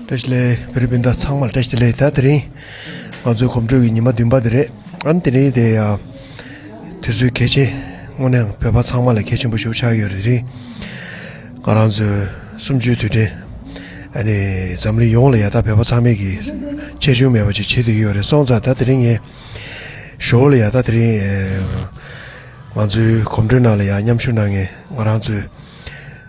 ཏྲེ་ཤི་ལེ། བེ་རི་བེ་འདྲ་ཚང་མར་ཏྲེ་ཤི་ལེ་ད་དེ་རིང་ང་ཚོའི་གོམ་བགྲོད་ཀྱི་ཉི་མ་བདུན་པ་དེ་རེད་ཨང། དེ་རིང་དེ་དུས་ཚོད་གལ་ཆེན། དངོས་ནས་ཡང་བོད་པ་ཚང་མ་ལ་གལ་ཆེན་པོ་ཞུགས་ཆགས་ཡོད་རེད་དེ་རིང། ང་རང་ཚོའི་གསུམ་བཅུའི་དུས་དྲན། ཨ་ནི་འཛམ་གླིང་ཡོངས་ལ་ཡ་ད་བོད་པ་ཚང་མས་ཀྱི་ཆེ་ཆུང་མེད་པ་ཅིག་བྱེད་དུ་ཡོད་རེད་སོང་ཙང་ད་དེ་རིང་ངས་ཞོའུ་ལ་ཡ་ད་དེ་རིང། ང་ཚོའི་གོམ་བགྲོད་ནང་ལ་ཡང་མཉམ་ཞུགས་གནང་ངེས་ང་རང་ཚོའི།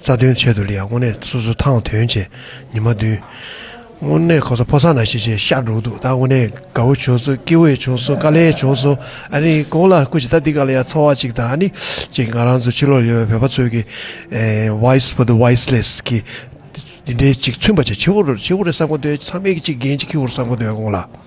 རྩ་དོན་ཆེད་དུ་ལི་ཡ་དངོས་གནས་སོ་སོ་ཐང་དོན་བྱས་ཉི་མ་བདུན། དངོས་གནས་ཁོ་ཚོ་ཕོ་སར་ན་ཤེས་བྱའི་ཤ་འགྲོ་འདུག་ད་དངོས་གནས་དགའ་བོ་བྱོས་སོ་སྐྱིད་བོས་བྱོས་སོ་དཀའ་ལས་བྱོས་སོ་ཨ་རིའི་གོང་ལ་སྐུ་ཅིག་ད་འདི་ག་ལ་ཡ་འཚོ་བ་ཅིག་དང་ཨ་ནི་ཅིག་ང་རང་ཚོ་ཕྱི་ལོག་ཡོད་བོད་པ་ཚོས་ཀྱི Wise for the Wiseless གི་འདི་འདྲའི་ཅིག་མཚོན་པ་ཅིག་ཆེ་བོ་རེད་ས་གོ་འདོད་ཚང་མས་ཀྱི་ཅིག་རྒན་ཅིག་ཁྱི་བོར་ས་གོ་འདོད་གོང་ལ།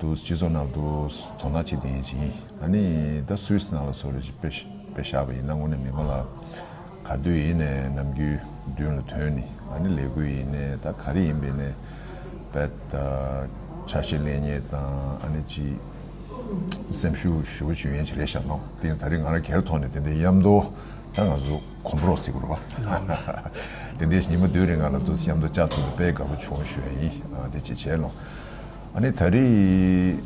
འདུག་སྤྱི་ཚོགས་ནང་དུ་དོ་སྣང་བྱེད་བདེ་ཞིང་ཨ་ནི་ད་སུད་སི་ནང་ལ་སོ་རེ་ཞིག་དཔེ་བཞག་པ་ཡིན་ན་དངོས་གནས་མི་མང་ལ་ག་དུས་ཡིན་ནས་ནམ་རྒྱུན་མདུན་ལ་ཐོན་ནི་ཨ་ནི་ལས་འགུལ་ཡིན་ནས་ད་ག་རེ་ཡིན་པའི་ནས་བད་ཆ་ཤས་ལེན་ཉེས་དང་ཨ་ནི་ཅི་སེམས་ཤུག་ཞུ་བ་ཞུ་ཡན་ཆི་རེད་བཞག་ནོ་དེ་ཡང་ད་རེ་ང་ར་གེར་ཐོག་ནས་དེ་འདའི་ཡམ་མདོ་ད་ང་སུ་གོམ་པོ་རོག་སི་གུར་བ་དེ་འདའི་ཉི་མ་བདུན་རེ་ང་ལ་དུ་སི་ཡམ་མདོ་ལྕགས་ཐུབ་ལ་དཔེ་དགའ་པོ་བྱུང་ཞུ་ཡ་ཡིན་དེ་ཅི་བྱས་ནོ། ཨ་ནི་ད་རེས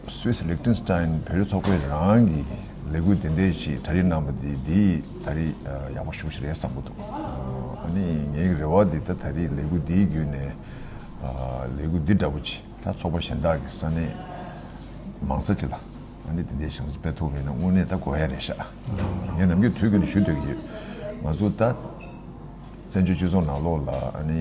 Swiss Liechtenstein བོད་རིགས་ཚོགས་པའི་རང་གི་ལས་འགུལ་དེ་འདས་ཞིག་ད་རེས་གནང་བ་དེ་འདི་ད་རེས་ཡག་པོ་ཞུགས་ཤིག་རེད་བསམ་པོ་འདུག་ཨ་ནི་ངའི་རེ་བ་འདི་ད་ད་རེས་ལས་འགུལ་འདིའི་བརྒྱུད་ནས་ལས་འགུལ་འདི་འདྲ་པོ་ཆེ་ད་ཚོགས་པ་གཞན་དག་གི་ས་ནས་མང་ས་ཅིག་ལ་ཨ་ནི་དེ་འདས་ཞིག་ང་ཚོ་སྤེལ་ཐུབ་མེད་ན་དངོས་གནས་ད་དགོས་ཡ་རེད་ཤག་ངས་ནམ་རྒྱུན་དུས་ཀྱི་ནས་ཞུ་འདོད་ཀྱི་ཡོད་ང་ཚོ་ད་བཙན་བྱོལ་སྤྱི་ཚོགས་ནང་ལོགས་ལ་ཨ་ནི།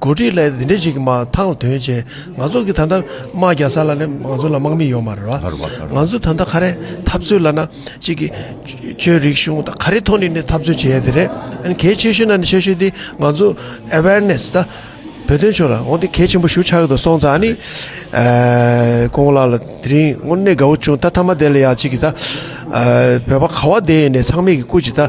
གོ་སྒྲིག་ལས་འདི་འདྲ་ཞིག་མ་ཐག་ལ་དོན་ཆེ་ང་ཚོ་གི་ད་ལྟ་དམག་རྒྱག་ས་ལ་ནི་ང་ཚོ་ལ་དམག་མི་ཡོད་མ་རེད་བ། ང་ཚོ་ད་ལྟ་ག་རེ་འཐབ་རྩོད་ལ་ན་གཅིག་གི་ཆོས་རིག་གཞུང་ད་ག་རེ་ཐོག་ནས་ནི་འཐབ་རྩོད་བྱེད་ཡ་དེ་རེད་ཨ་གལ་ཆེ་ཤོས་ན་ནི་ཆེ་ཤོས་དེ་ང་ཚོ awareness ད་བོད་དོན་ཕྱོགས་ལ་འོ་དེ་གལ་ཆེན་པོ་ཞུ་ཆགས་ཏུ་སོང་ཙང་ནི་ཀོང་བོ་ལགས་ལ་དེ་རིང་དངོས་གནས་དགའ་བོ་བྱུང་ད་ཐ་མ་དེ་ལ་ཡང་གཅིག་གི་ད་བོད་པ་ག་བ་དེ་ཡིན་ནས་ཚང་མས་གི་སྐུ་གཅིག་ད།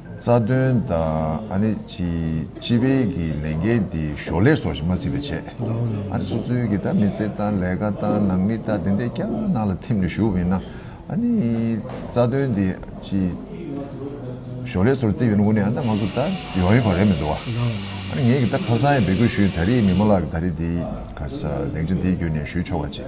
རྩ་དོན་དང་སྤྱི་པའི་གི་ལས་འགན་དེ་ཞོར་ལས་སོགས་ཞིག་མ་བརྩིས་པའི་ཆེད། སོ་སོའི་གི་མི་ཚེ་དང་ལས་ཀ་དང་ནང་མི་དང་དེ་འད་རྐྱང་ནང་ལ་ཐིམ་ནས་ཞུགས་པ་ཡིན་ན། རྩ་དོན་དེ་ཞོར་ལས་སོགས་བརྩིས་པའི་དངོས་ནས་ང་ཚོ་ད་ཡོང་ཡོད་པ་རེད་མི་འདུག་བ། ངས་གི་ད་ཁ་སང་ཡང་འབད་སྐུལ་ཞུས་ཡོད་ད་རེས་མི་མང་ལ་གི་ད་རེས་དེ་ག་ས་གདེང་ཆ་དེ་བརྒྱུད་ནས་ཞུས་ཆོག་པ་ཅིག།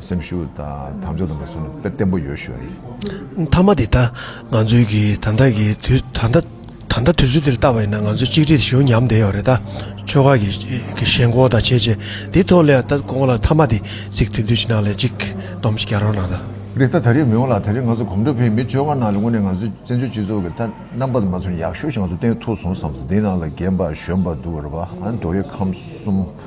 སེམས་ཤུགས་དང་དམ་ཕྱོགས་དང་པོ་སོ་ནི་དཔེ་བརྟན་པོ་ཡོད་ཤོས་རེད། མཐའ་མ་དེ་ད་ང་ཚོའི་གི་ད་ལྟ་གི་དུས་ད་ལྟ་ད་ལྟ་དུས་ཚོད་འདིར་བལྟ་བ་ཡིན་ན་ང་ཚོ་གཅིག་སྒྲིལ་ཞུ་ཉམས་བསྡད་ཡོད་རེད་ད། ཆོལ་ཁ་གི་གི་ཞེན་ཁོག་དང་བྱས་རྗེས་དེ་ཐོག་ལས་ད་ཁོང་ལ་མཐའ་མ་དེ་ཚིག་དུས་འདུས་ཕྱི་ནང་ལས་གཅིག་སྡོམ་གཅིག་རྒྱ་རོགས་གནང་ད། རེད་ད་ད་རེས་མི་ཡོང་ལ་ད་རེས་ང་ཚོ་གོམ་བགྲོད་ཕེབས་མི་ཆོལ་ཁ་ནང་ལས་ངོས་ནས་ང་ཚོའི་བཙན་བྱོལ་སྤྱི་ཚོགས་གི་ད་རྣམ་པ་དང་མ་ཚོར་ཡག་ཤོས་ཤིག་ང་ཚོ་བསྟན་ཐུབ་སོང་བསམ་ས་དེའི་ནང་ལ་རྒན་པ་གཞོན་པ་འདུག་ར་བ་འདོད་ཡོད་ཁམས་གསུམ།